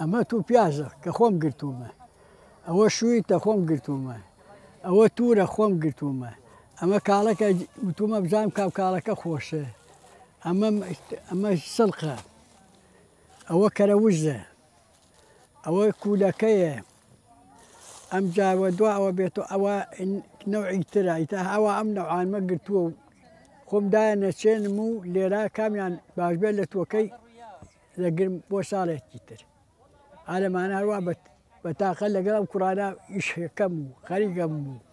ئەمە تو پیازە کە خۆم گرتوومە ئەوە شووی تە خۆم گرتوومە ئەوە تورە خۆم گرتوومە ئەمە کاڵەکە وتومە بزانام کاو کاڵەکە خۆشە ئەمە ئەمە سڵقە ئەوە کەرە وزە ئەوە کولەکەیە ئەمجا وە دوا ئەوە بێتەوە ئەوە نەوعی ترە ئیتر ئەوە ئەم نەوعانمە گرتووە و خۆم دایە نەچێنم و لێرە کامیان باش بێت لە تۆکەی دەگرم بۆ ساڵێکی تر ئالەمانە هەروە بە بە تاقە لەگەڵ ئەم کوڕانە ئیشەکەم و خەریکەم و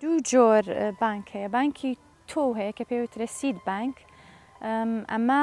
دوو جۆر بانک هەیە بانکی تۆ هەیە کە پێوترە سید بانک ئەمە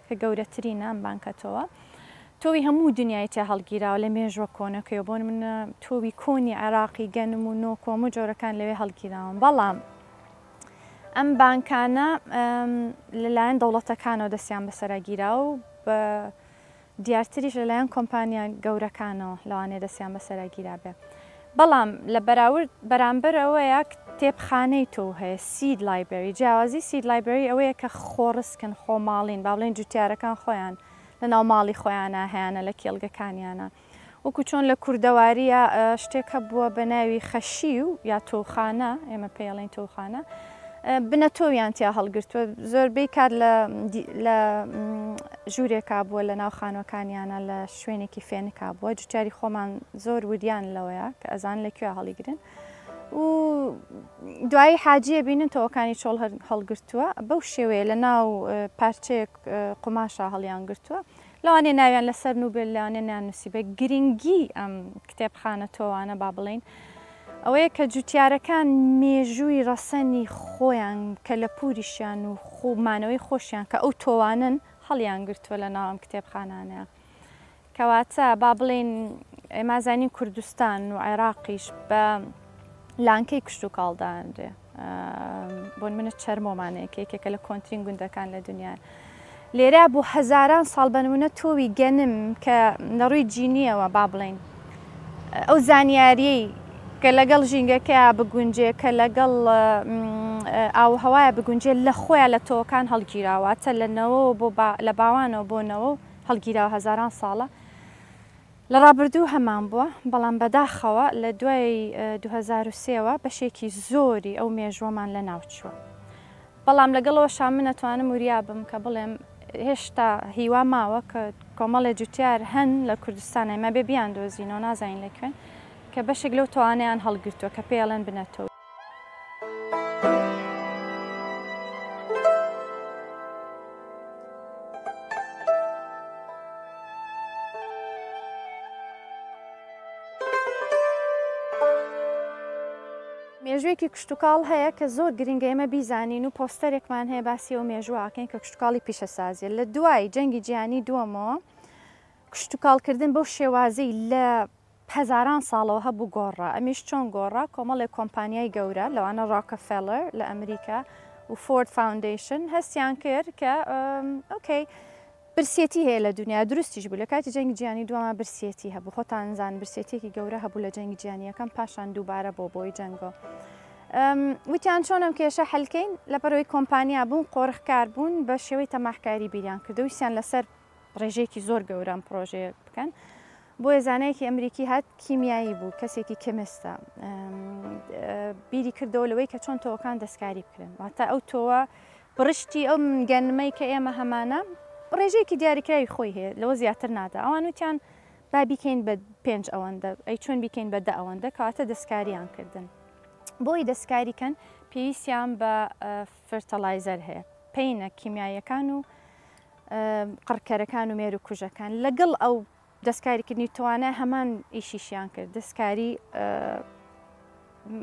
کە گەورەترینە ئەم بانکە تۆوە تۆوی هەموو دنیای تیا هەڵگیراوە لە مێژووە کۆنەکەیەوە بۆ نمونە تۆوی کۆنی عێراقی گەنم و نۆک و هەموو جۆرەکان لەوێ هەڵگیراون بەڵام ئەم بانکانە لەلایەن دەوڵەتەکانەوە دەستیان بەسەرا گیرا و بە دیارتریش لەلایەن کۆمپانیا گەورەکانەوە لەوانێ دەستیان بەسەرا گیرابێ بەڵام لە بەراورد بەرامبەر ئەوەیە کتێبخانەی تۆو هەیە، سید لایبرەری، جیاوازی سید لایبرەری ئەوەیە کە خۆڕسکن، خۆماڵین، با بڵێین جوتیارەکان خۆیان لە ناو ماڵی خۆیانا هەیانە لە کێڵگەکانیانا، وەکو چۆن لە کوردەوارییا شتێک هەبووە بە ناوی خەشیو یا تۆوخانە، ئێمە پێی ئەڵێین تۆوخانە، بنەتۆویان تیا هەڵگرتووە زۆربەی کات لە لە ژوورێکا بووە لە ناو خانوەکانیانە لە شوێنێکی فێنکا بووە جوتیاری خۆمان زۆر وریان لەوەیە کە ئەزان لە کوێ هەڵیگرن و دوایی حاجیە بینن تەوەکانی چۆڵ هەڵگرتووە بەو شێوەیە لە ناو پارچەیەک قوماشە هەڵیان گرتووە لەوانەیە ناویان لەسەر نووبێت لەوانەیە نانووسیبێت، گرنگیی ئەم کتێبخانە تۆوانە با بڵێین ئەوەیە کە جووتیارەکان مێژووی ڕەسەنی خۆیان، کەلەپووریشیان و خو مانەوەی خۆشیان کە ئەو تۆوانەن هەڵیان گرتووە لە ناو ئەم کتێبخانانە. کەواتە با بڵێین ئێمە ئەزانین کوردستان و عێراقیش بە لانکەی کشتوکاڵ دادەنرێ. بۆن منە چەرمۆمانەیە کە یەکێکە لە کۆنترین گوندەکان لە دنیا لێرە بۆ هەزاران ساڵ بەنمونە تۆوی گەنم کە لە ڕووی جینیەوە با بڵین ئەو زانیاریەی کە لەگەڵ ژینگەکە بگونجێ کە لەگەڵ ئاوهوایە بگونجێ لە خۆیان لە تۆکان هەڵگیراواتە لە نەوە بۆ لە باوانەوە بۆ نەوە هەڵگیراوە هەزاران ساڵە لە ڕابردوو هەمان بووە، بەڵام بەداخەوە لە دوای دوو هەزار و سێ وە بەشێکی زۆری ئەو مێژووەمان لەناوچووە. بەڵام لەگەڵ ئەوەشا من ئەتوانم وریا بم کە بڵێم هێشتا هیوا ماوە کە کۆمەڵێ جوتیار هەن لە کوردستان ئێمە بێ بیاندۆزینەوە نازانین لە کوێن کە بەشێک لەو تەوانەیان هەڵگرتووە کە پێی ئەڵێن بنەتۆ. مێژوویەکی کشتوکاڵ هەیە کە زۆر گرنگە ئێمە بیزانین و پۆستەرێکمان هەیە باسی ئەو مێژوواکەین کە کشتوکاڵی پیشەسازیە لە دوای جەنگی جیهانی دووەمەوە کشتوکاڵکردن بەو شێوازی لە هەزاران ساڵەوە هەبوو گۆڕا ئەمیش چۆن گۆڕا کۆمەڵێک کۆمپانیای گەورە لەوانە ڕۆکەفێلەر لە ئەمریکا و فۆرد فاوندەیشن هەستیان کرد کە ئۆکەی برسێتی هەیە لە دنیا دروستیش بوو لە کاتی جەنگی جیهانی دووەمە برسێتی هەبوو خۆتان زان برسێتێکی گەورە هەبوو لە جەنگی جیهانییەکەم پاشان دووبارە بۆ بۆی جەنگۆ وتیان چۆنم کێشە هەلکەین لە بەرەوەی کۆمپانیا بوون قۆرخکار بوون بە شێوەی تەماحکاری بیریان کردویسیان لەسەر ڕێژەیەکی زۆر گەورە ئەم پڕۆژەیە بکەن بۆیە زانایەکی ئەمریکی هات کیمیایی بوو کەسێکی کەمستە بیری کردەوە لەوەی کە چۆن تۆکان دەستکاری بکرێن واتە ئەو تۆوە بڕشتی ئەو گەنمەی کە ئێمە هەمانە ڕێژەیەکی دیاریکراوی خۆی هەیە لەوە زیاتر نادا ئەوان وتیان با بیکەین بە پێنج ئەوەندە ئەی چۆن بیکەین بە دە ئەوەندە کەواتە دەستکاریان کردن بۆی دەستکاریکەن پێویستیان بە فرتەلایزەر هەیە پینە کیمیایەکان و قڕکەرەکان و مێروکوژەکان لەگەڵ ئەو دەستکاریکردنی توانای هەمان ئیشیشیان کرد دەستکاری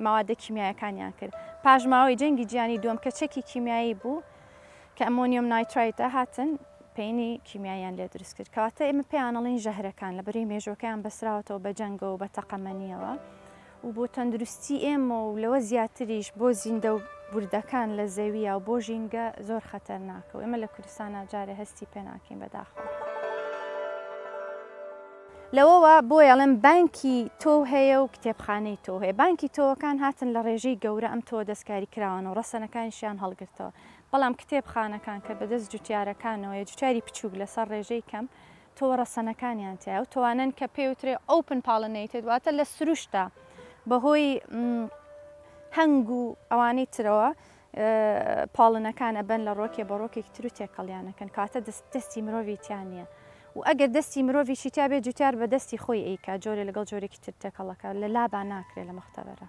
ماوادە کیمیایەکانیان کرد پاشماوەی جەنگی جیانی دوم کە چەکی کیمیایی بوو کە ئەمۆنیۆم نایترایتە هاتن پێینی کیمیایان لێ دروست کرد کەواتە ئێمە پێیانەڵین ژەهرەکان لە بەری مێژۆکەیان بەسراوەتەوە بە جەنگەوە بە تەقەمەنیەوە و بۆ تەندروستی ئێمە و لەوە زیاتریش بۆ زیندە و وردەکان لە زەویە و بۆ ژینگە زۆر خەتەرناکە و ئێمە لە کوردستانا جارێ هەستی پێ ناکەین بەداخەوە. لەوەوە بۆیە ئەڵێم بانکی تۆو هەیە و کتێبخانەی تۆو هەیە، بانکی تۆوەکان هاتن لە ڕێژەی گەورە ئەم تۆوە دەستکاری کراوەن و ڕەسەنەکانیشیان هەڵگرتەوە، بەڵام کتێبخانەکان کە بەدەست جوتیارەکانەوەیە جوتیاری بچووک لەسەر ڕێژەی کەم، تۆوە ڕەسەنەکانیان تیایە و تۆوانەن کە پێی وترێ Open Pollinated واتە لە سروشتدا بە هۆی هەنگ و ئەوانەی ترەوە پاڵنەکان ئەبەن لە ڕۆکێ بە ڕۆکێکی تر و تێکەڵیانەکەن کاتە دەست دەستی مرۆڤی تیان نییە و ئەگەر دەستی مرۆڤی شیتیا بێ جوتیار بە دەستی خۆی ئەیکا جۆرە لەگەڵ جۆرێکی تر تێکەڵەکە لە لابا ناکرێت لە مختبەرە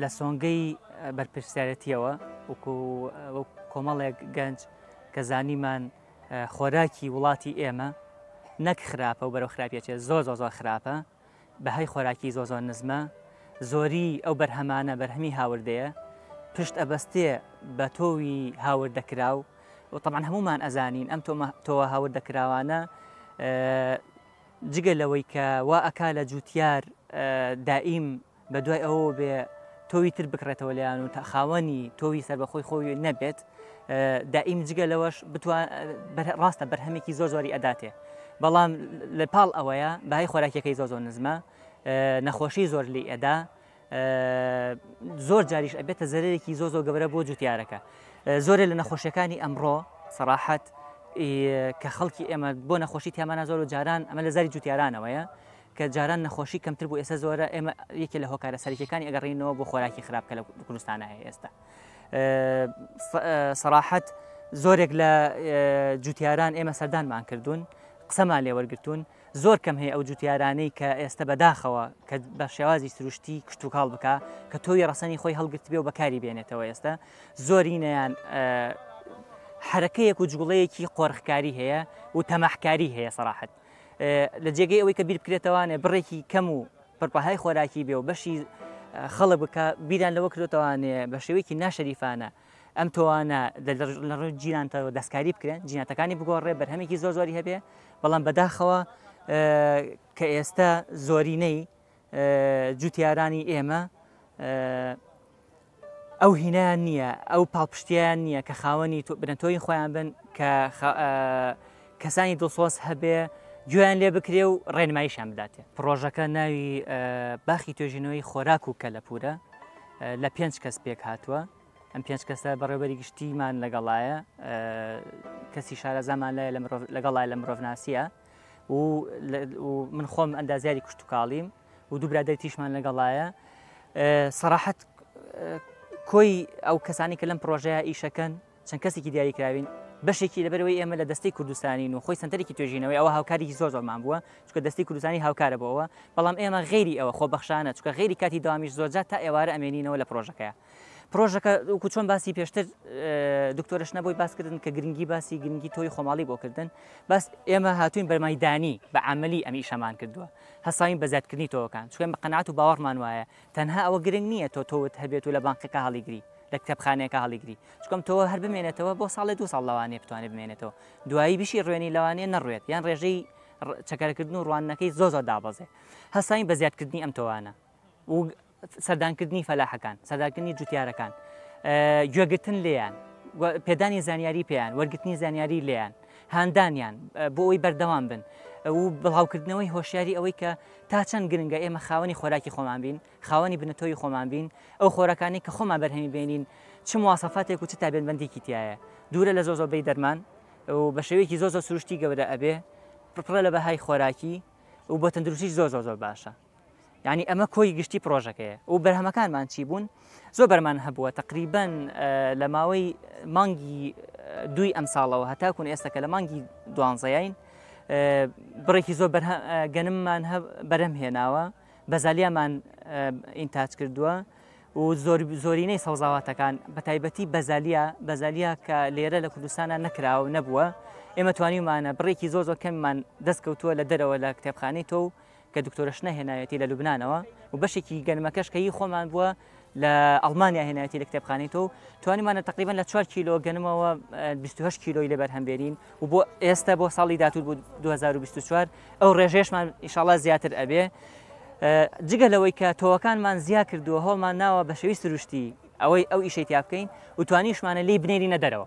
لە سۆنگەی بەرپرسیارەتیەوە وکو کۆمەڵێک گەنج کە زانیمان خۆراکی وڵاتی ئێمە نەک خراپە و بەرەو خراپیەچێت زۆر زۆ زۆر خراپە بەهای خۆراکی زۆ زۆر نزمە زۆری ئەو بەرهەمانە بەرهەمی هاوردەیە پشت ئەبەستێ بە تۆوی هاوردەکرا و وتەمان هەمومان ئەزانین ئەم تۆوە هاوردەکراوانە جگە لەوەی کە وا ئەکا لە جووتیار دائیم بە دوای ئەوەوە بێ تۆوی تر بکڕێتەوە لەیان و تا خاوەنی تۆوی سربەخۆی خۆی نەبێت دائیم جگە لەوەش ڕاستە بەرهەمێکی زۆر زۆری ئەداتێ بەڵام لە پاڵ ئەوەیە بای خۆراکیەکەی زۆ زۆر نزمە نەخۆشی زۆر لی ئەدا زۆر جاریش ئەبێتە زەرێکی زۆ زۆ گەورە بۆ جوتیارەکە زۆرە لە نەخۆشیەکانی ئەمڕۆ سەراحەت کە خەڵکی ئێمە بۆ نەخۆشی تیامانە زۆر و جاران ئەمە لە زاری جوتیارانەوەیە کە جاران نەخۆشی کەمتر بۆ ئێستا زۆرە ئێمە یەکێ لە هۆکارە سەرکیەکانی ئەگەڕینەوە بۆ خۆراکی خراپ کە لە کوردستانە هەیە ئێستا سەراحەت زۆرێک لە جوتیاران ئێمە سەردانمان کردوون قسەمان لێوەرگتون زۆر کەم هەیە ئەو جوتیارانەی کە ئێستە بەداخەوە کە بە شێوازی سروشتی کشتتوکاڵ بکە کە تۆوی ڕەسەنی خۆی هەڵگرت بێ و بەکاری بێنێتەوە ئێستا زۆرینەیان حرەکەیەک و جوڵەیەکی قۆرخکاری هەیە و تەماحکاری هەیە سەراحەت لە جێگەی ئەوەی کە بیر بکرێتەوانێ بڕێکی کەم و پڕپەهای خۆراکی بێ و بەشی خەڵک بکە بیران لەوە کرێتوانێ بە شێوەیەکی ناشەریفانە ئەم تۆانە لە ڕووی جیناتەوە دەستکاری بکرێن جیناتەکانی بگۆڕێ بەرهەمێکی زۆر زۆری هەبێ بەڵام بەداخەوە کە ئێستا زۆرینەی جوتیارانی ئێمە ئەو هینایان نییە ئەو پاڵپشتیان نییە کە خاوەنی بنەتۆی خۆیان بن کە کەسانی دڵسۆز هەبێ گوێیان لێ بکرێ و ڕێنماییشان بداتێ پرۆژەکە ناوی باخی توێژینەوەی خۆراک و کەلەپورە لە پێنج کەس پێک هاتووە ئەم پێنج کەسە بەڕێوبەری گشتیمان لەگەڵایە کەسی شارەزامان لای لەگەڵای لە مرۆڤناسیە و من خۆم ئەندازیاری کوشتتوکاڵیم و دوو برادەر تیشمان لەگەڵایە سەراحەت کۆی ئەو کەسانی کە لەم پرۆژەیە ئیشەکەن چەند کەسێکی دیاری کراوین بەشێکی لەبەرەوەی ئێمە لە دەستەی کوردستانین و خۆی سنتەرێکی توێژینەوەی ئەوە هاوکاریی زۆر زۆرمان بووە چکە دەستی کوردستانی هاوکارە بۆ ئەوە بەڵام ئێمە غێری ئەوە خۆ بەخشانە چکە غێری کاتی داوامیش زۆرجار تا ئێوارە ئەمێنینەوە لە پرۆژەکەیە پرۆژەکە وکو چۆن باسی پێشتر دکتۆرش نەبووی باسکردن کە گرنگی باسی گرنگی تۆی خۆماڵی بۆکردن بەس ئێمە هاتوین بەرمایدانی بە عملی ئەمی شەمان کردووە هەساین بە زیادکردنی تۆکان چکەم بە قەنات و باوەڕمان وایە تەنها ئەوە گرنگ نیە تۆ تۆوت هەبێت و لە بانقێکا هەڵیگری لە کتێبخانەیەکا هەڵیگری چونکە ئەم تۆوە هەر بمێنێتەوە بۆ ساڵێ دوو ساڵ لەوانەیە بتوانێت بمێنێتەوە دوایی بشی ڕوێنی لەوانەیە نەڕوێت یان ڕێژەی چەکەرەکردن و ڕواننەکەی زۆ زۆر دابەزێ هەستاین بە زیادکردنی ئەم تۆوانە و سەردانکردنی فەلاحەکان سەردانکردنی جوتیارەکان گوێگرتن لێیان پێدانی زانیاری پێیان وەرگتنی زانیاری لێیان هاندانیان بۆ ئەوی بەردەوام بن و بڵاوکردنەوەی هۆشیاری ئەوەی کە تا چەند گرنگە ئێمە خاوەنی خۆراکی خۆمان بین، خاوەنی بنەتۆوی خۆمان بین، ئەو خۆراکانەی کە خۆمان بەرهەمی بێنین چ مواسەفاتێک و چ تایبەتمەندیکی تیایە، دوورە لە زۆر زۆر بەی دەرمان و بە شێوەیەکی زۆر زۆر سروشتی گەورە ئەبێ، پڕە لە بەهای خۆراکی و بۆ تەندروستیش زۆر زۆر زۆر باشە. یانی ئەمە کۆی گشتی پڕۆژەکەیە و بەرهەمەکانمان چی بوون؟ زۆر بەرمان هەبووە تقریبەن لە ماوەی مانگی دوی ئەم ساڵەوە هەتاکوون ئێستا کە لە مانگی دوانزەیین بڕێکی زۆر گەنممان بەرەم هێناوە بەزالیامان ئینتاج کردووە و زۆر زۆرینەی سەوزاواتەکان بە تایبەتی بەزالیا بەزالیا کە لێرە لە کوردستانە نەکراوە نەبووە ئێمە توانیمانە بڕێکی زۆر زۆر کەممان دەستکەوتووە لە دەرەوە لە کتێبخانەی تۆ و کە دکتۆرەش نەهێناوێتی لە لوبنانەوە و بەشێکی گەنمەکەش کە هی خۆمان بووە لە ئەڵمانیا هێنایەتی لە کتێبخانەی تۆ توانیمانە تقریبان لە 4 کیلۆ گەنمەوە 28 کیلۆی لەبەر هەمبێرین و بۆ ئێستا بۆ ساڵی دااتور بوو 2024 ئەو ڕێژێشمان ئیشاڵا زیاتر ئەبێ جگە لەوەی کە تۆوەکانمان زیا کردووە هەڵمان ناوە بە شێوی سروشتی ئەوەی ئەو ئیشێتیا بکەین و توانیشمانە لی بنێرینە دەرەوە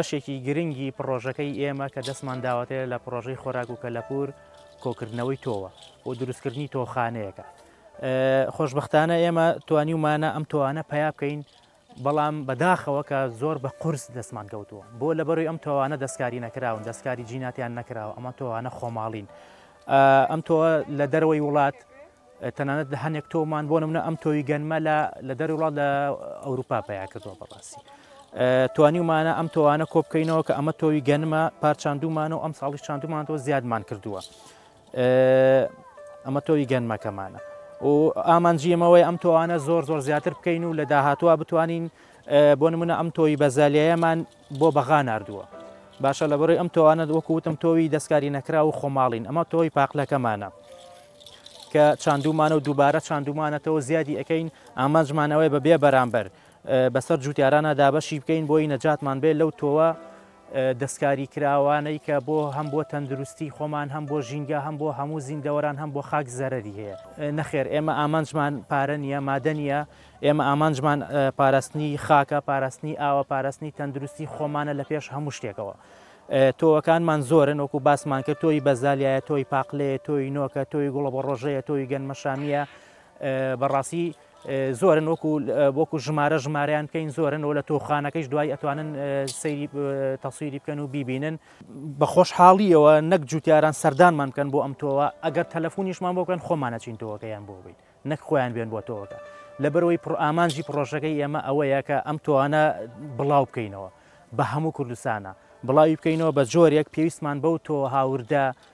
بەشێکی گرنگی پڕۆژەکەی ئێمە کە دەستمان داوەتەیە لە پڕۆژەی خۆراک و کەلەپور کۆکردنەوەی تۆوە و دروستکردنی تۆخانەیەەکە خۆشببختانە ئێمە توانی ومانە ئەم تۆوانە پیا بکەین بەڵام بە داخەوە کە زۆر بە قورس دەستمان کەوتووە بۆ لە بەروی ئەم تۆوانە دەستکاری نەکراون دەستکاری جیناتیان نەکراوە ئەمە تۆوانە خۆماڵین ئەم تۆ لە دەرەوەی وڵات تەنانەت لە هەنێک تۆمان بۆ نمونە ئەم تۆوی گەنمە لە لە دەر وڵات لە ئەوروپا پیا کردووە بەڕاستی توانیومانە ئەم تۆوانە کۆبکەینەوە کە ئەمە تۆوی گەنمە پارچاندومانەوە ئەم ساڵی چاندومانەوە زیادمان کردووە ئەمە تۆوی گەنمەکەمانە و ئامانجی ئەمەوەی ئەم تۆوانە زۆر زۆر زیاتر بکەین و لە داهاتوە بتوانین بۆ نمونە ئەم تۆی بەزالیەیەمان بۆ بەغا نردووە باشە لە بەڕی ئەم تۆوانە وەکوتم تۆوی دەستکاری نەکرا و خۆماڵین ئەمە تۆی پاقلەکەمانە کە چاندومانە و دووبارە چاندومانەتەوە زیادی ئەەکەین ئامانجمانەوەی بە بێ بەرامبەر بەسەر جووتیارانە دابەشی بکەین بۆی نەجاتمان بێت لەو تۆوە دەستکاریکراوانەی کە بۆ هەم بۆ تەندروستی خۆمان هەم بۆ ژینگە هەم بۆ هەموو زیندەوەران هەم بۆ خاک زەرەری هەیە نەخێر ئێمە ئامانجمان پارە نییە مادە نییە ئێمە ئامانجمان پاراستنی خاکە پاراستنی ئاوە پاراستنی تەندروستی خۆمانە لە پێش هەموو شتێکەوە تۆوەکانمان زۆرن وەکو باسمان کرد تۆی بەزالیایە تۆی پاقلەیە تۆی نۆکە تۆی گوڵە بە ڕۆژەیە تۆی گەنمەشامیە بەڕاستی زۆرن وەکو وەکو ژمارە ژمارەیان بکەین زۆرن و لە تۆخانەکەیش دوای ئەتوانن سەیری تەسویری بکەن و بیبینن بە خۆشحاڵیەوە نەک جوتیاران سەردانمان بکەن بۆ ئەم تۆوە ئەگەر تەلەفۆنیشمان بۆکەن خۆمانەچین تۆوەکەیان بۆ بین نەک خۆیان بێن بۆ تۆوەکە لەبەرەوەی پڕ ئامانجی پرۆژەکەی ئێمە ئەوەیە کە ئەم تۆوانە بڵاو بکەینەوە بە هەموو کوردستانە بڵاوی بکەینەوە بە جۆرێک پێویستمان بەو تۆ هاوردە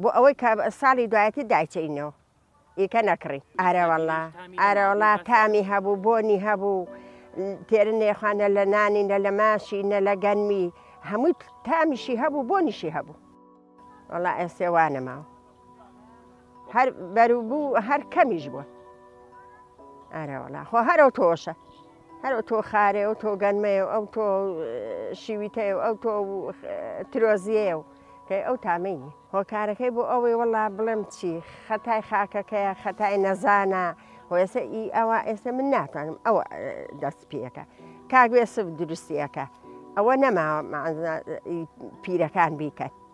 بۆ ئەوەی کە ساڵی دوایەتی دایچەینەوە ئیکە نەکڕین ئارەوەڵا ئارەوەڵا تامی هەبوو بۆنی هەبوو تێرە نێخوانە لە نانی نە لە ماشی نە لە گەنمی هەمووی تامیشی هەبوو بۆنیشی هەبوو وەڵا ئێسێ وانەماوە هەر بەروبوو هەر کەمیش بووە ئارەوەڵا خۆ هەرەوە تۆشە هەر ئەوتۆ خارەی ئەوتۆ گەنمەیە و ئەوتۆ شیویتەیە و ئەوتۆ ترۆزیەیە و کەی ئەو تامەی نیە هۆکارەکەی بۆ ئەوەی وەڵا بڵێم چی خەتای خاکەکەیە خەتای نەزانە هۆێسە ئی ئەوە ئێستا من ناتوانم ئەوە دەست پێەکە کاگوێسف دروستیەکە ئەوە نەماوە پیرەکان بیکەن.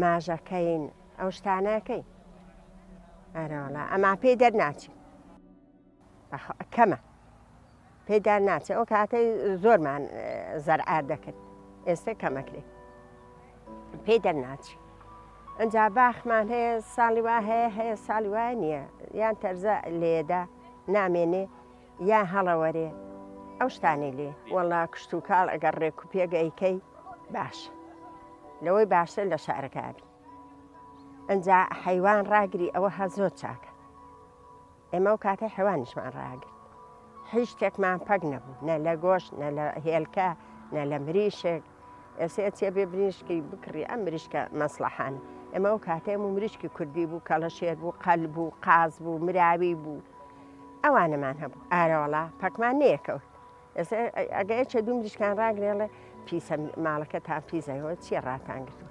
ماژەکەین ئەو شتانە کەی ئەرەوەڵا ئەما پێی دەرناچی کەمە پێدا ناچێت ئەو کاتەی زۆرمان زەرعات دەکرد ئێستا کەمەکرێت پێی دەرناچی ئەجا باخمان هەیە ساڵی وا هەیە هەیە ساڵی وایە نییە یان تەرزە لێدا نامێنێ یان هەڵەوەرێ ئەو شتانەی لێ. وەڵا کشتوکاڵ ئەگەر ڕێک و پێک ئەیکەی باشە لەوەی باشتر لە شارەکا بی ئەنجا حەیوان ڕاگری ئەوە هە زۆر چاکە ئێمە و کاتەی حەوانیشمان ڕاگرت هیچ شتێکمان پەک نەبوو نە لە گۆشت نە لە هێلکە نە لە مریشک ئێسێ ئەچێ بێ بریشکی بکڕی ئەم مریشکە مەسڵەحانە ئێمە ئەو کاتێ ئەم و مریشکی کوردی بوو کەڵە شێر بوو قەل بوو قاز بوو مراوی بوو ئەوانەمان هەبوو ئارەوەڵا پەکمان نەیەکەوت ئێستا ئەگە ئەچێ دوو مریشکان ڕاگرێڵێ پیسە ماڵەکە تا پیزەوە چیە ڕاتان گرتوو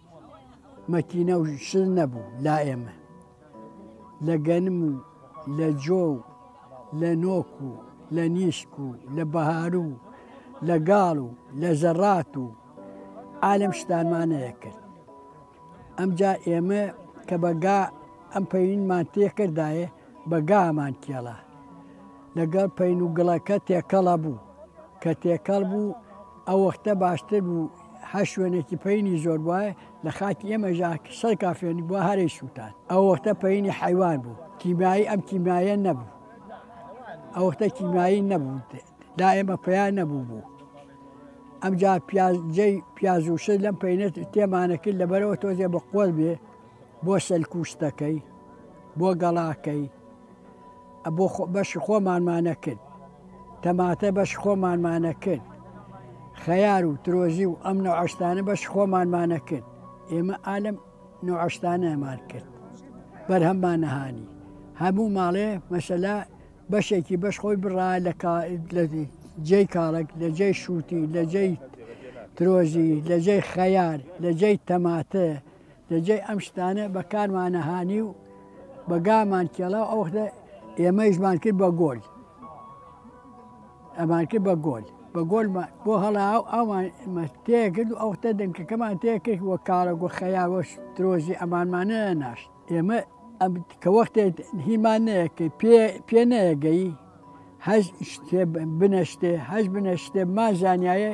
مەکینە و شت نەبوو لا ئێمە لە گەنم و لە جۆ و لە نۆک و لە نیشک و لە بەهارو و لە گاڵ و لە زەڕات و عالم شتانمانەیە کرد ئەمجا ئێمە کە بەگا ئەم پەینمان تێکردایە بەگامان کێڵە لەگەڵ پین و گڵەکە تێکەڵە بوو کە تێکەڵ بوو ئەو وەختە باشتر بوو هەر شوێنێکی پەینی زۆر بوایە لە خاکی ئێمەژا سەر کافێنی بووە هەرەی سووتان ئەو وەختە پەینی حەیوان بوو کیمایی ئەم کیمایە نەبوو ئەو وەختە کیمایی نەبوو دا ئێمە پیا نەبوو بوو ئەمجا پیازجێ پیازوشە لەم پەینێت تێمانەکرد لەبەرەوە تۆزێ بە قۆل بێ بۆ سەلکوشتەکەی بۆ گەڵاکەی بۆ بەشی خۆمانمان نەکرد تەماتە بەشی خۆمانمان نەکرد خەیار و ترۆزی و ئەم نەوعە شتانە بەشی خۆمانمان نەکرد ئێمە ئالم نەوعە شتانەمان کرد بەرهەممان نەهانی هەموو ماڵێ مەسەلا بەشێکی بەش خۆی بڕا لە کا لە جێی کاڵک لە جێی شووتی لە جێی ترۆزی لە جێی خەیار لە جێی تەماتە لە جێی ئەم شتانە بە کارمانە هانی و بە گامان کێڵا و ئەو وەختە ئێمەیشمان کرد بە گۆل. ئەمان کرد بە گۆل بە گۆلمان بۆ هەڵا و ئەومان مە تێ کرد و ئەو وەختە دەنکەکەمان تێ کرد وە کاڵە گۆ خەیاوەش درۆزی ئەمانمانە ناشت ئێمە ئەم کە وەختێ هیمان نەیە کە پێ پێ نەیەگەی هەش شتێ بنەشتێ هەش بنەشتێ ما زانایە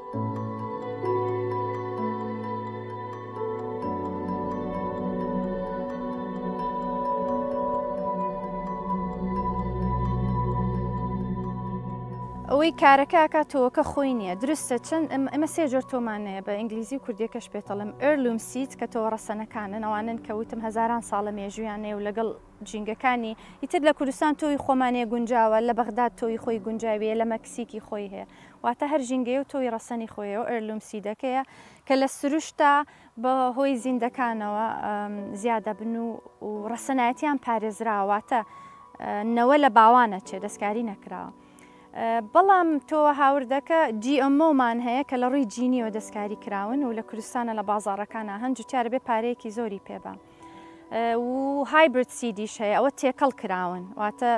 ئەوەی کارەکە ئەکات تۆوەکە خۆی نییە درستە چەند ئەمە سێ جۆر تۆمانەیە بە ئینگلیزی و کوردیەکەش پێتەڵم ئەرلوم سیت کە تۆوە ڕەسەنەکانن ئەوانن کە وتم هەزاران ساڵە مێژویانەیە و لەگەڵ ژینگەکانی ئیتر لە کوردستان تۆوی خۆمانێ گونجاوە، لە بەغداد تۆوی خۆی گونجاوییە، لە مەکسیکی خۆی هەیە. واتە هەر ژینگەیە و تۆوی ڕەسەنی خۆی هەیە و ئەرلوم سیدەکەیە کە لە سروشتا بە هۆی زیندەکانەوە زیا دەبن و و ڕەسەنایەتیان پارێزراوە، واتە نەوە لە باوان ئەچێ، دەستکاری نەکراوە. بەڵام تۆوە هاوردەکە جی ئەم ئۆ مان هەیە کە لە ڕووی جینییەوە دەستکاری کراون و لە کوردستانە لە بازاڕەکانا هەن، جوتیار ئەبێ پارەیەکی زۆری پێ با. و هایبرد سیدیش هەیە ئەوە تێکەڵ کراون واتە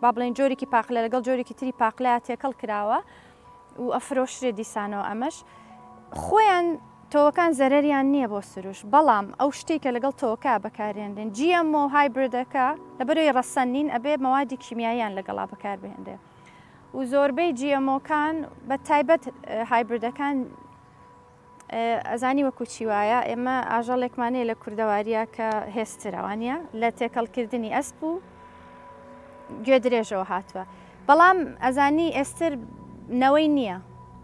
با بڵێن جۆرێکی پاقلە لەگەڵ جۆرێکی تری پاقلە تێکەڵ کراوە و ئەفرۆشرێ دیسانەوە ئەمەش خۆیان تۆکان زەرریان نییە بۆ سروش بەڵام ئەو شتێکە لەگەڵ تۆکە بەکارێنرێن جیەم و هایبردەکە لە بەرەوەی ڕەسەن نین ئەبێ مەوادی کیمیاییان لەگەڵا بەکار بهێنرێ و زۆربەی جیەمۆکان بە تایبەت هایبردەکان ئەزانی وەکو چی وایە ئێمە ئاژەڵێکمان هەیە لە کوردەواریە کە هێسترە وانە لە تێکەڵکردنی ئەسپ و گوێ درێژەوە هاتووە بەڵام ئەزانی ئێستر نەوەی نییە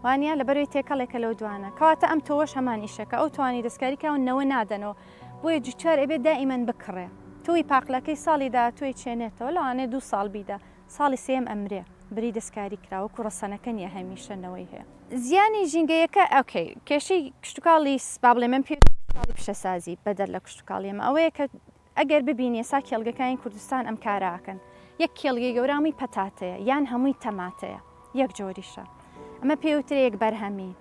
وانە لە بەروی تێکەڵێکە لەو دوانە کەواتە ئەم تۆش هەمان ئیشەکە ئەو توانی دەستکاری کاون نەوە نادەنەوە بۆیە جوچار ئەبێ دائیمەن بکڕێ توی پاقلەکەی ساڵی داهاتوی چێنێتەوە لەوانێ دوو ساڵ بیدا ساڵی سێیەم ئەمرێ بری دەستکاری کرا وەکو ڕەسەنەکە نیە هەمیشە نەوەی هەیە. زیانی ژینگەیەکە ئۆکەی کێشەی کشتوکاڵی با بڵێ من پێویستە کشتوکاڵی پیشەسازی بەدەر لە کشتوکاڵی ئەمە ئەوەیە کە ئەگەر ببینی ئێسا کێڵگەکانی کوردستان ئەم کارە ئەکەن یەک کێڵگەی گەورە هەمووی پەتاتەیە یان هەمووی تەماتەیە یەک جۆریشە ئەمە پێوترێ یەک بەرهەمی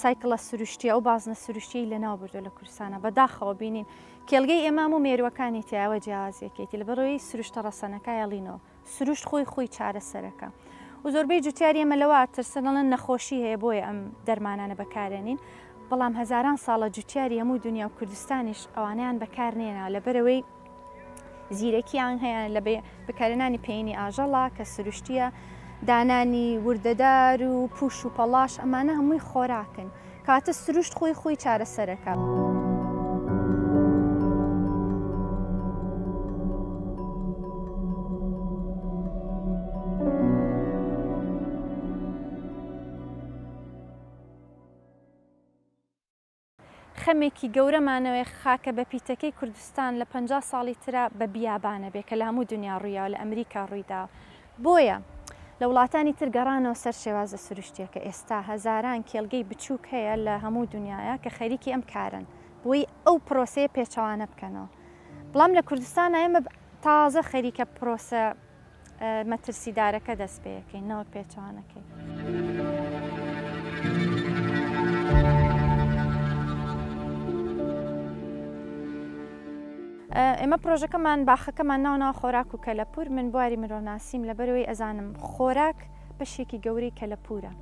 سایکڵە سروشتیە و بازنە سروشتیەی لەناو بردوە لە کوردستانا بە داخەوە بینین کێلگەی ئێمام و مێروەکانی تیایەوە جیاوازیەکێتی لەبەرۆیی سروشتە ڕەسەنەکایە ڵینەوە سروشت خۆی خۆی چارەسەرەکە و زۆربەی جوتیاری ئێمە لەوە ئەترسن دەڵێن نەخۆشی هەیە بۆیە ئەم دەرمانانە بەکارێنین بەڵام هەزاران ساڵە جوتیاری هەموو دونیا و کوردستانیش ئەوانەیان بەکارنێناوە لەبەرەوەی زیرەکیان هەیە لە بەکارێنانی پێینی ئاژەڵا کە سروشتیە دانانی وردەدار و پوش و پەڵاش ئەمانە هەمووی خۆراکن کاتە سروشت خۆی خۆی چارەسەرەکە. خەمێکی گەورەمانەوەیە خاکە بەپیتەکەی کوردستان لە پەنجا ساڵی ترا بە بیابانە بێ کە لە هەموو دونیا ڕوویاوە لە ئەمریکا ڕوویداوە بۆیە لە وڵاتانی تر گەڕانەوە سەر شێوازە سروشتیەکە ئێستا هەزاران کێلگەی بچووک هەیە لە هەموو دونیایا کە خەریکی ئەم کارەن بۆی ئەو پرۆسەیە پێچەوانە بکەنەوە بڵام لە کوردستانا ئێمە تازە خەریکە پرۆسە مەترسیدارەکە دەست پێەکەین نەوەک پێچوانەکەی. ئێمە پرۆژەکەمان باخەکەمان ناونا خۆراک و کەلەپور من بواری مرۆناسیم لە بەرەوەی ئەزانم خۆراک بەشێکی گەورەی کەلەپورە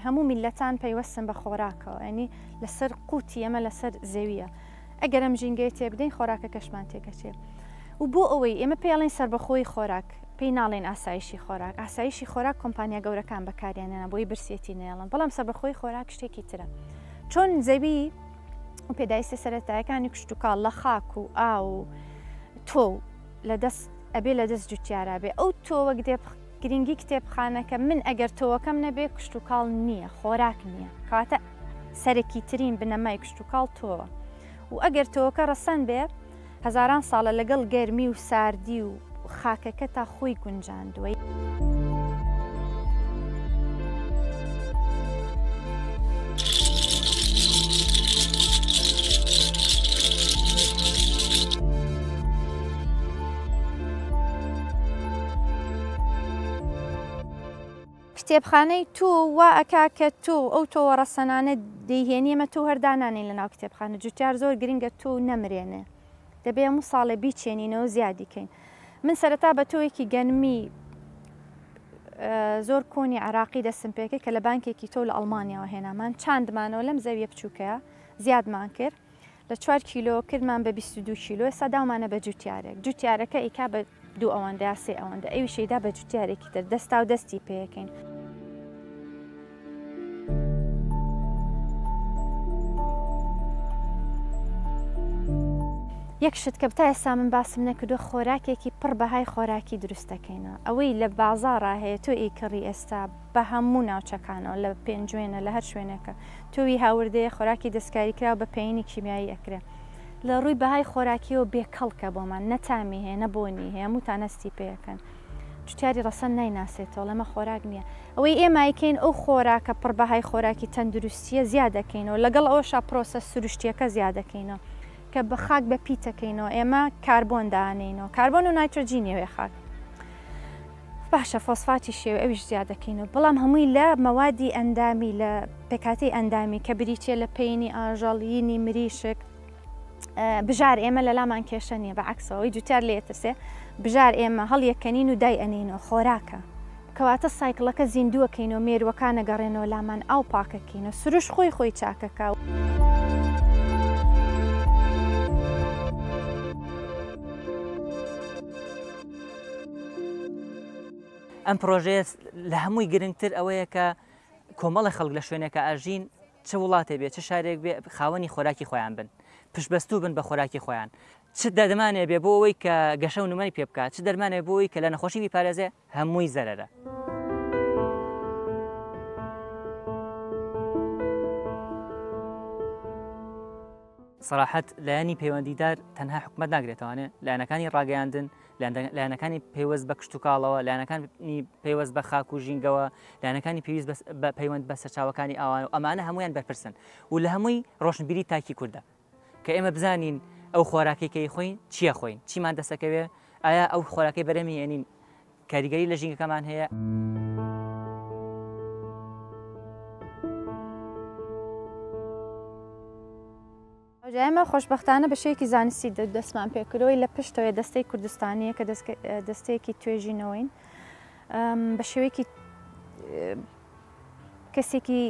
هەموو میلەتان پەیوەستن بە خۆراکەوە ئەنی لەسەر قوتی ئەمە لەسەر زەویە ئەگەر ئەم ژینگەیە تێبدەین خۆراکەکەشمان تێکەچێ و بۆ ئەوەی ئێمە پێڵێن سەربەخۆی خۆراک پێی ناڵێن ئاسایشی خۆراک ئاسایشی خۆراک کۆمپانیا گەورەکان بەکاریانێنە بۆی برسێتی نێڵن بەڵام سەربەخۆی خۆراک شتێکی ترە چۆن زەوی و پێدایستە سەرەتایەکانی کشتتوکاڵ لە خاک و ئا و تۆ لە دەست ئەبێ لە دەست جوتیارا بێ ئەو تۆ وەک دێ گرینگی کتێبخانەکە من ئەگەر تۆوەکەم نەبێ کشتوکاڵ نییە خۆراک نییە کەواتە سەرەکیترین بنەمای کشتوکاڵ تۆوە و ئەگەر تۆوەکە ڕەسەن بێ هەزاران ساڵە لەگەڵ گەرمی و ساردی و خاکەکە تا خۆی گونجاندووە. کتێبخانەی تۆ وا ئەکا کە تۆ ئەو تۆوە ڕەسەنانە دەیهێنی ئێمە تۆو هەر دانانێین لەناو کتێبخانە جوتیار زۆر گرنگە تۆو نەمرێنێ دەبێ هەموو ساڵێ بیچێنینەوە زیادی کەین من سەرەتا بە تۆوێکی گەنمی زۆر کۆنی عراقی دەسم پێکرد کە لە بانکێکی تۆو لە ئەڵمانیاوە هێنامان چاندمانەوە لەم زەویە بچووکەیە زیادمان کرد لە چوار کیلۆ کردمان بە بیست و دوو کیلۆ ئێستا داومانە بە جوتیارێک جوتیارەکە ئیکا بە دوو ئەوەندە یا سێ ئەوەندە ئەوی شەیدا بە جوتیارێکی تر دەستا و دەستی پێەکەین. یەک شت کە بتا ئێستا من باسم نەکردو خۆراکێکی پڕ بەهای خۆراکی دروستەکەینە ئەوەی لە بازاڕا هەیە تۆ ئیکڕی ئێستا بە هەموو ناوچەکانەوە لە پێنجوێنە لە هەر شوێنێکە تووی هاوردەیە خۆراکی دەستکاریکراو بە پەینی کیمیایی ئەکرێ لە ڕووی بەهای خۆراکیەوە بێ کەڵکە بۆمان نە تامی هەیە نە بۆنی هەیە هەمووتان هەستی پێەکەن جوتیاری ڕەسەن نایناسێتەوە لەمە خۆراک نییە ئەوەی ئێمایکەین ئەو خۆراکە پڕ بەهای خۆراکی تەندروستیە زیادەکەینەوە لەگەڵ ئەوشا پرۆسە سروشتیەکە زیادەکەینەوە کە بە خاک بە پیتەکەینەوە ئێمە کاربۆن دانینەوە کاربۆن و نایترۆجینیەوەێ خاک باشە فۆسفاتی شێوەی ئەویش زیاد دەکەینەوە بەڵام هەمووی لە مەوادی ئەندامی لە پێکهاتەی ئەندامی کە بریتیە لە پەینی ئاژەڵ ینی مریشک بژار ئێمە لە لامان کێشە نیە بە عکسەوەی جوتار لێترسێ بژار ئێمە هەڵیەکەنین و دای ئەنینەوە خۆراکە کەواتە سایکلەکە زیندووەکەین و مێروەکانە گەڕێنەوە لامان ئاو پاکەکەین و سروش خۆی خۆی چاکەکە و. ئەم پرۆژەیە لە هەمووی گرنگتر ئەوەیە کە کۆمەڵی خەڵک لە شوێنێکە ئاژین چ وڵاتێ بێ چ شارێک بێ خاوەنی خۆراکی خۆیان بن پشبەستوو بن بە خۆراکی خۆیان چ دەدمانێ بێ بۆ ئەوەی کە گەشە و نمای پێ بکات چ دەرمانێ بۆی کە لە نەخۆشی بیپارێزێ هەمووی زەرەرە. سەراحەت، لایەنی پەیوەندیدار تەنها حکومەت ناگرێتەوانێ، لایەنەکانی ڕاگەیاندن، لایەنەکانی پەیوەست بە کشتوکاڵەوە، لایەنەکانی پەیوەست بە خاک و ژینگەوە، لایەنەکانی پێویست بە پەیوەند بە سەرچاوەکانی ئاوان و ئەمانە هەمویان بەرپرسن و لە هەمووی ڕۆشنبیری تاکی کوردە کە ئێمە بزانین ئەو خۆراکەی کەی خۆین چیە خۆین چیمان دەسەکەوێ ئایا ئەو خۆراکەی بەرەمی ئەنین کاریگەری لە ژینگەکەمان هەیە. ئێمە خۆشبەختانە بە شێوەیەکی زانستی دەستمان پێکردەوەی لە پشتەوەی دەستەی کوردستانیە کە دەستەیەکی توێژینەوەین بە شێوەیەکی کەسێکی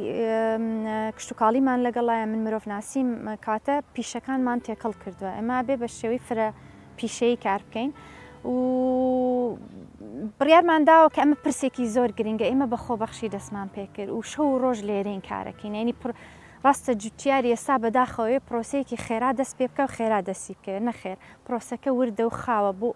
کشتوکاڵیمان لەگەڵایە من مرۆڤ ناسیم کاتە پیشەکانمان تێکەڵ کردووە ئەمە بێ بە شێوەی فرە پیشەیی کار بکەین و بڕیارمان داوە کە ئەمە پرسێکی زۆر گرنگە ئێمە بە خۆبەخشی دەستمان پێکرد و شەو و ڕۆژ لێرین کارەکەین ینی پر ڕاستە جوتیار ئێستا بەداخەوەی پرۆسەیەکی خێرا دەست پێ بکە و خێرا دەسی بکەوێت نەخێر پرۆسەکە وردە و خاوە بۆ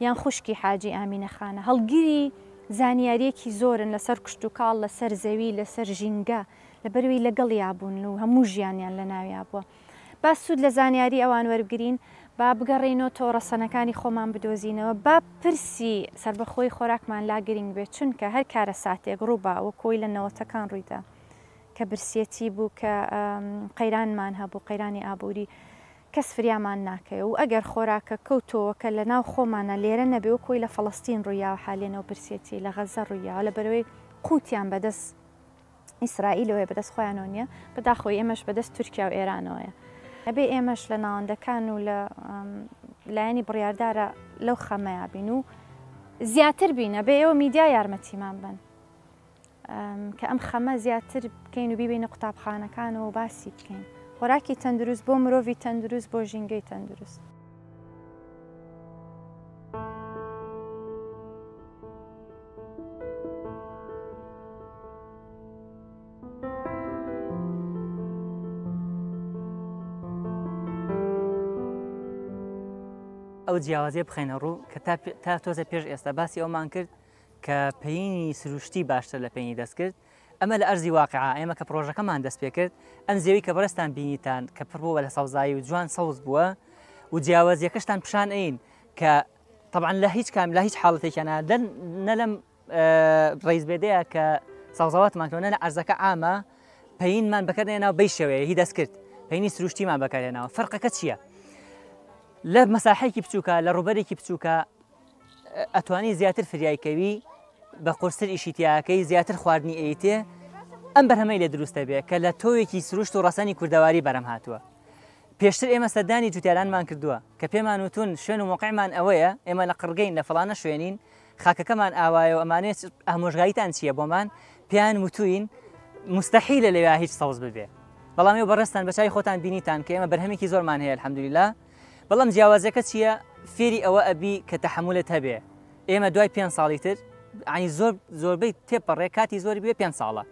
یان خوشکی حاجی ئامینە خانە، هەڵگری زانیارییەکی زۆرن لەسەر کشتوکاڵ لەسەر زەوی، لەسەر ژینگە، لەبەرئەوەی لەگەڵیا بوون و هەموو ژیانیان لەناویا بووە. با سوود لە زانیاری ئەوان وەربگرین، با بگەڕێینەوە تۆڕەسەنەکانی خۆمان بدۆزینەوە، با پرسی سەربەخۆیی خۆراکمان لا گرینگ بێت، چونکە هەر کارەساتێک ڕووبا، وەکو ئەوەی لە نەوەتەکان ڕوویدا کە برسیەتی بوو، کە قەیرانمان هەبوو، قەیرانی ئابووری، کەس فریامان ناکەوێ و ئەگەر خۆراکەکە و تۆوەکە لە ناو خۆمانە لێرە نەبێ وەک وەی لە فەڵەستین ڕوویاوە حالێن ئەو برسێتی لە غەزە ڕوویاوە لە بەرەوەی قوتیان بە دەس ئیسرائیلەوەیە بە دەس خۆیانەوە نیە بەداخەوە ئێمەش بە دەس تورکیا و ئێرانەوەیە ئەبێ ئێمەش لە ناوەندەکان و لە لایەنی بڕیاردارا لەو خەمەیا بین و زیاتر بین ئەبێ ئێوە میدیا یارمەتیمان بەن کە ئەم خەمە زیاتر بکەین و بیبەینە قوتابخانەکانەوە و باسی بکەین. خۆراکی تەندروست بۆ مرۆڤی تەندروست بۆ ژینگەی تەندروست. ئەو جیاوازیە بخەینە ڕوو کە تا تۆزە پێش ئێستا باسی ئەومان کرد، کە پەینی سروشتی باشتر لە پێنی دەستکرد ئەمە لە ئەرزی واقعا ئێمە کە پرۆژەکەمان دەست پێ کرد ئەم زێوی کە بەرستان بینیتان کە پڕ بووە لە سەوزایی و جوان سەوز بووە و جیاوازیەکەشتان پیشان ئەین کە طبعا لە هیچ کام لە هیچ حاڵەتێکیانە دەن نە لەم ڕیز بێدەیە کە سەوزەواتمان کەونە لە ئەرزەکە ئامە پەینمان بەکردێنەوە بەی شێوەیە هی دەست کرد پێنی سروشتیمان بەکارێنەوە فەرقەکە چییە؟ لە مەساحێکی بچووکە لە ڕوبەرێکی بچووکە ئەتوانی زیاتر فریای کەوی بە قورستر ئیشی تیاکەی زیاتر خواردنی ئەیتێ ئەم بەرهەمەی لە دروستە بێ کە لە تۆوێکی سروشت و ڕەسەنی کوردەواری بەرەم هاتووە پێشتر ئێمە سەردانی جوتیارانمان کردووە کە پێمان وتون شوێن و مۆقعمان ئەوەیە ئێمە لە قڕگەین لە فلانە شوێنین خاکەکەمان ئاوایە و ئەمانێت ئامۆژگاریتان چییە بۆمان پێیان وتوین مستحیلە لەوێ هیچ سەوز ببێ بەڵام ئێوە بەڕێستان بە چای خۆتان بینیتان کە ئێمە بەرهەمێکی زۆرمان هەیە الحمدللە بەڵام جیاوازەکە چیە فێری ئەوە ئەبی کە تەحملت هەبێ ئێمە دوای پێ ساڵی تر ئەنی زۆر زۆربەی تێپەڕێ کاتی زۆری بێ پێ ساڵە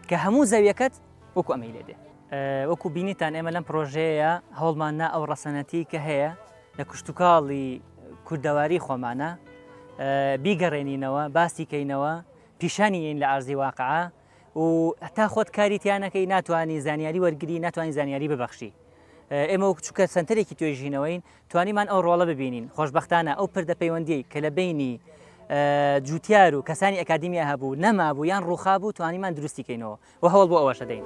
کە هەموو زەویەکەت وەکو ئەمەی لێ بێ وەکو بینیتان ئێمە لەم پرۆژەیە هەوڵمان نا ئەو ڕەسەنەتی کە هەیە لە کوشتتوکاڵی کوردەواری خۆمانە بیگەڕێنینەوە باسی کەینەوە پیشانی ین لە ئارزی واقع و هەتا خۆت کاری تیانەکەی ناتوانانی زانیاری وەرگری ناتوانانی زانیاری ببەخشی ئێمە وەک چووکە سنتەرێکی توێژینەوەین توانیمان ئەو ڕۆڵە ببینین خۆشببختانە ئەو پردە پەیوەندی کە لە بینی جوتیار و کەسانی ئەکادیمیا هەبوو نەمابوو یان ڕوخا بوو توانیمان دروستیکەینەوە و هەوڵ بۆ ئەوەشە دەین.